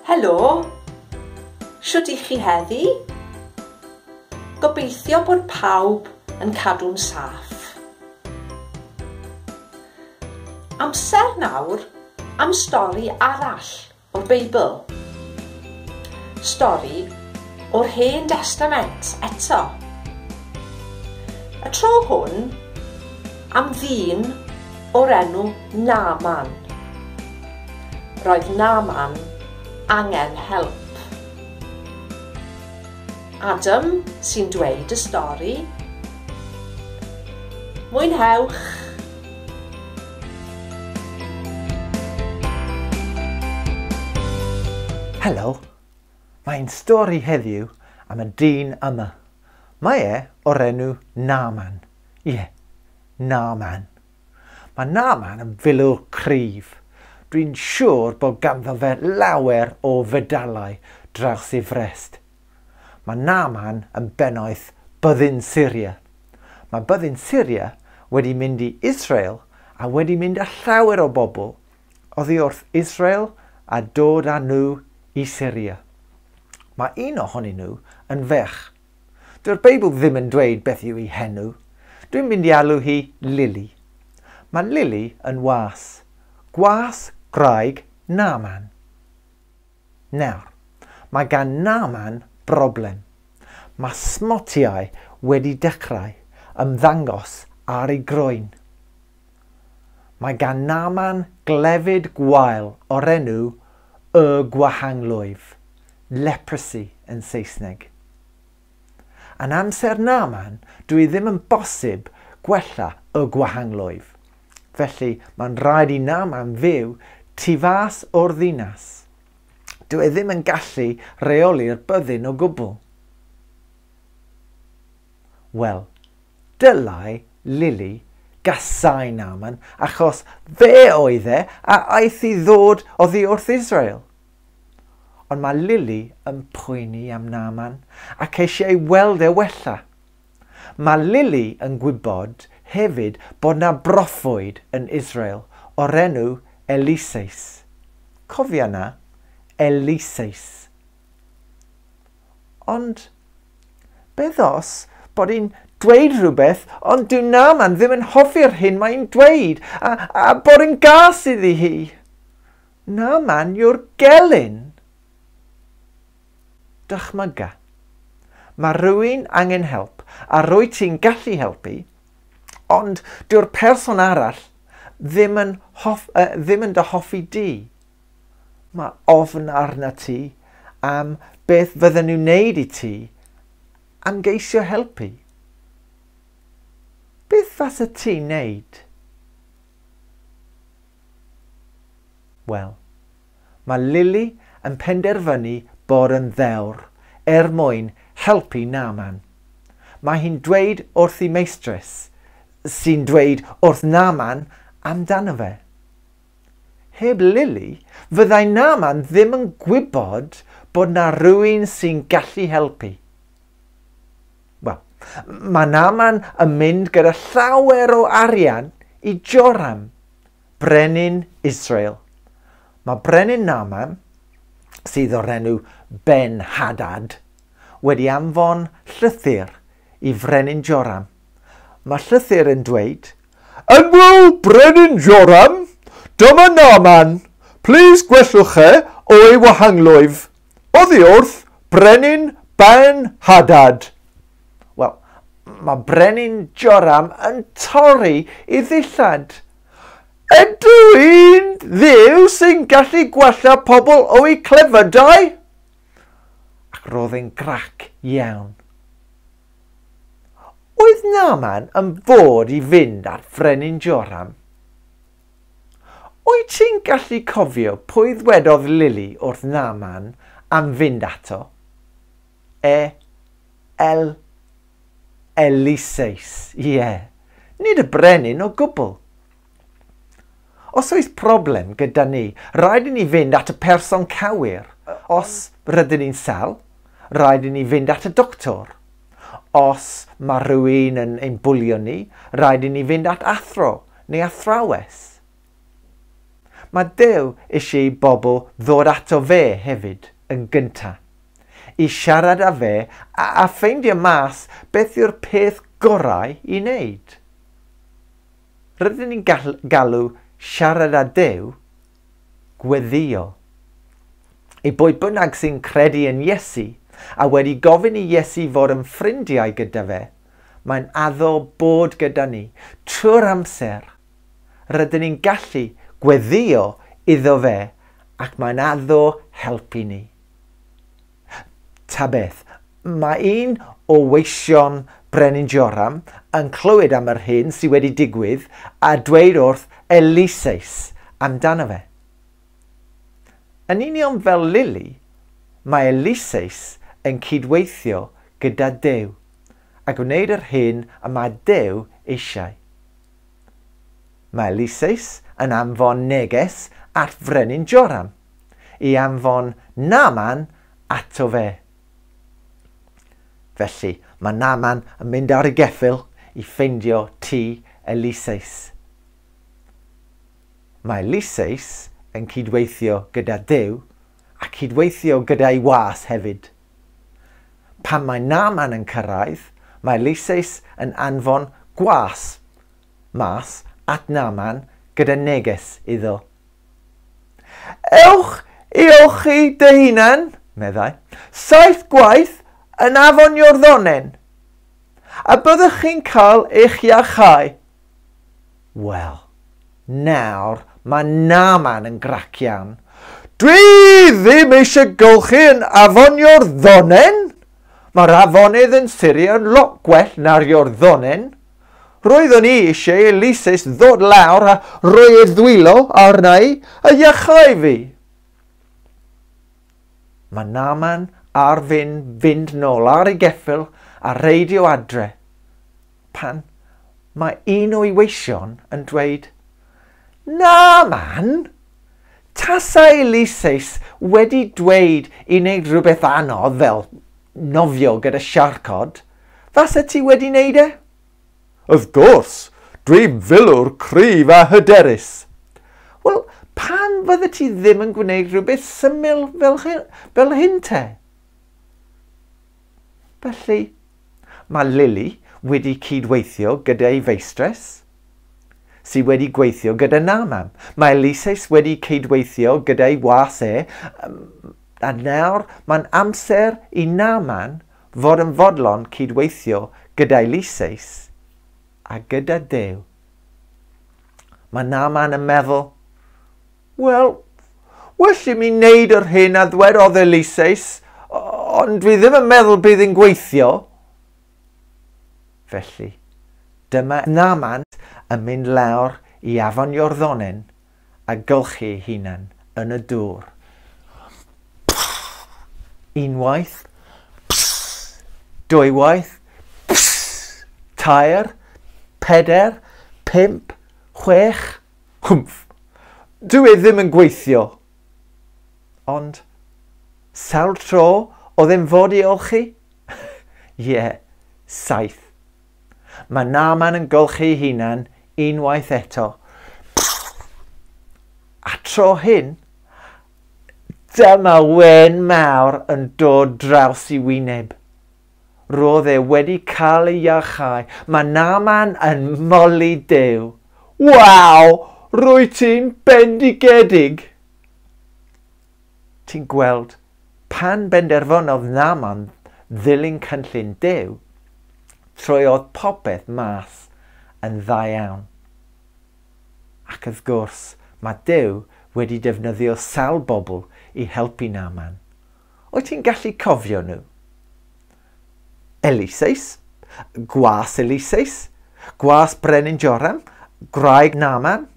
Helo, siwt i chi heddi? Gobeithio bod pawb yn cadw'n saff. Amser nawr am stori arall O'r Beibl. Stori o'r Hen Destament eto. Y tro hwn am ddyn o'r enw Naman. Roedd Naman angen help. Adam sy'n dweud y stori. Mwynhewch! Helo! Mae ein stori heddiw am y dyn yma. Mae e o'r enw Naaman. Ie, yeah, Naaman. Mae Naaman yn filwr cryf. Dwi'n siŵr bod ganddo fe lawer o fedalau draws ei frest. Mae Naaman yn bennaeth byddin Syria. Mae byddin Syria wedi mynd i Israel a wedi mynd â llawer o bobl oddi wrth Israel a dod â nhw i Syria. Mae un ohonyn nhw yn ferch. Dyw'r Beibl ddim yn dweud beth yw ei henw. Dwi'n mynd i alw hi Lili. Mae Lili yn was. Gwas gwraig Naaman. Nawr, mae gan Naaman broblem. Mae smotiau wedi dechrau ymddangos ar ei groen. Mae gan Naaman glefyd gwael o'r enw Y Gwahanglwyf, leprosy yn Saesneg. Yn amser Naaman, dw i ddim yn bosib gwella y gwahanglwyf. Felly, mae'n rhaid i Naaman fyw tu fas o'r ddinas. Dw e ddim yn gallu reoli'r byddin o gwbl. Wel, dylai Lili gasau Naaman achos fe oedd e a aeth i ddod oddi wrth Israel. Ond mae Lily yn poeni am Naaman ac eisiau ei weld e wella. Mae Lily yn gwybod hefyd bod na broffwyd yn Israel o'r enw Eliseus. Cofia na, Eliseus. Ond beddos bod hi'n dweud rhywbeth, ond dyw Naaman ddim yn hoffi'r hyn mae'n dweud, a, a bod yn gas iddi hi. Na man yw'r gelyn! Dychmyga. Mae rhywun angen help a rwyt ti'n gallu helpu, ond dyw'r person arall ddim yn, hoff, uh, ddim yn dy hoffi di. Mae ofn arna ti am beth fydden nhw'n wneud i ti am geisio helpu. Beth fasa ti'n wneud? Wel, mae Lily yn penderfynu bod yn ddewr er mwyn helpu Naaman. Mae hi'n dweud wrth ei meistres, sy'n dweud wrth Naaman amdano fe. Heb Lily, fyddai Naaman ddim yn gwybod bod na rwy'n sy'n gallu helpu. Wel, mae Naman yn mynd gyda llawer o arian i Joram, brenin Israel. Mae brenin Naman, sydd o'r enw Ben Hadad, wedi anfon llythyr i frenin Joram. Mae llythyr yn dweud, Yn wyl brenin Joram, dyma Naman, plis gwellwch e o'i wahangloif. Oddi wrth Brenin Ben Hadad. Wel, mae Brenin Joram yn torri i ddillad. Ydw i'n dduw sy'n gallu gwella pobl o'u clefydau? Ac roedd e'n grac iawn. Oedd Naman yn fod i fynd at Frenin Joram? Wyt ti'n gallu cofio pwy ddwedodd Lili wrth Naaman am fynd ato? E. El. Eliseus, ie. Nid y brenin o gwbl. Os oes problem gyda ni, rhaid i ni fynd at y person cywir. Os rydyn ni'n sal, rhaid i ni fynd at y doctor. Os mae rhywun yn ein bwlio ni, rhaid i ni fynd at athro. Neu athrawes. Mae Duw eisiau i bobl ddod ato fe hefyd, yn gyntaf. I siarad â fe a, a ffeindio mas beth yw'r peth gorau i wneud. Rydyn ni'n galw siarad â Duw gweddïo. I bwy bynnag sy'n credu yn Iesu a wedi gofyn i Iesu fod yn ffrindiau gyda fe, Mae'n addo bod gyda ni trwy'r amser. Rydyn ni'n gallu gweddio iddo fe ac mae'n addo helpu ni. Ta beth, mae un o weision Brenin Joram yn clywed am yr hyn sydd wedi digwydd a dweud wrth Eliseus amdano fe. Yn union fel Lily, mae Eliseus yn cydweithio gyda Duw. a gwneud yr hyn y mae Duw eisiau. Mae Eliseus yn anfon neges at frenin Joram i anfon Naman ato fe. Felly mae Naman yn mynd ar y geffyl i ffeindio ti Eliseus. Mae Eliseus yn cydweithio gyda Duw a chydweithio gyda'i was hefyd. Pan mae Naman yn cyrraedd, mae Lyseis yn anfon gwas mas at Naman gyda neges iddo. Ewch i olchi dy hunan, meddai, saith gwaith yn afon Iorddonen, a byddwch chi'n cael eich iachau. Wel, nawr mae Naaman yn grac iawn. Dwi ddim eisiau golchi yn afon Iorddonen! Mae'r afonydd yn Syria yn lot gwell na'r Iorddonen. Roeddwn i eisiau Eliseus ddod lawr a rhoi ei ddwylo arna i a iachau fi. Mae Naaman ar fin fynd nôl ar ei geffyl a reidio adre. Pan mae un o'i weision yn dweud, Na, man! Tasai Ulysses wedi dweud i wneud rhywbeth anodd fel nofio gyda siarcod, fase ti wedi wneud e? Of gwrs! Dwi'n filwr cryf a hyderus! Wel, pam fydde ti ddim yn gwneud rhywbeth syml fel hyn te? Felly, mae Lily wedi cyd-weithio gyda'i feistres, sydd wedi gweithio gyda Naaman. Mae Eliseus wedi cyd-weithio gyda'i was e, a nawr mae'n amser i Naaman fod yn fodlon cyd-weithio gyda Eliseus a gyda Duw. Mae Naaman yn meddwl, Wel, well i mi wneud yr hyn a ddwedodd Eliseus, ond dwi ddim yn meddwl bydd yn gweithio. Felly, dyma Naman yn mynd lawr i afon Iorddonen a gylchu ei hunan yn y dŵr. Unwaith, dwywaith, tair, peder, pimp, chwech, Humph. Dyw e ddim yn gweithio. Ond, sawl tro oedd e'n fod i olchi? Ie, saith. Mae Naaman yn golchi'i hunan unwaith eto. A tro hyn, dyma wen mawr yn dod draws i wyneb. Roedd e wedi cael ei iachau. Mae Naaman yn moli Duw. Waw! Rwyt ti'n bendigedig! Ti'n gweld, pan benderfynodd Naaman ddilyn cynllun Duw, troiodd popeth mas yn dda iawn. Ac wrth gwrs, mae Duw wedi defnyddio sawl bobl i helpu Naaman. Wyt ti'n gallu cofio nhw? Eliseus, gwas Eliseus, gwas Brenin Joram, gwraig Naman,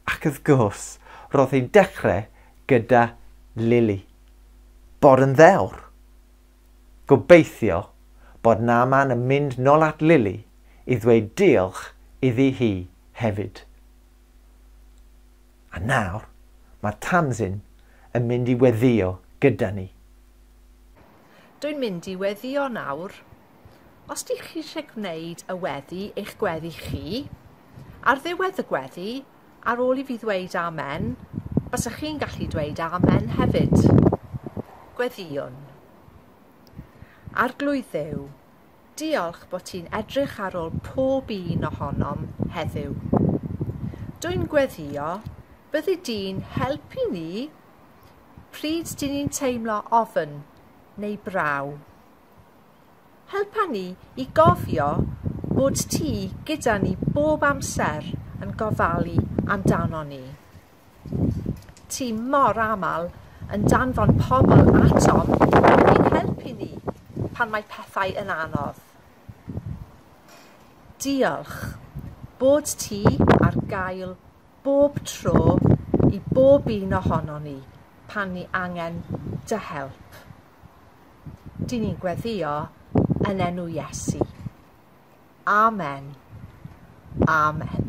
ac wrth gwrs, roedd hi'n dechrau gyda Lili. Bod yn ddewr. Gobeithio bod Naman yn mynd nol at Lili i ddweud diolch iddi hi hefyd. A nawr, mae Tamzin yn mynd i weddïo gyda ni. Dw i'n mynd i weddïo nawr. Os dych chi eisiau gwneud y weddi eich gweddi chi, ar ddiwedd y gweddi, ar ôl i fi ddweud amen, bysach chi'n gallu dweud amen hefyd. Gweddïwn. Arglwydd Dduw, Diolch bo ti'n edrych ar ôl pob un ohonom heddiw. Dwi'n gweddio, byddi di'n helpu ni pryd dyn ni'n teimlo ofn neu braw. Helpa ni i gofio bod ti gyda ni bob amser yn gofalu amdanon ni. Ti mor aml yn danfon pobl atom i'n helpu ni pan mae pethau yn anodd. Diolch bod ti ar gael bob tro i bob un ohonon ni pan ni angen dy help. Dyn ni'n gweddio yn enw Iesu. Amen. Amen.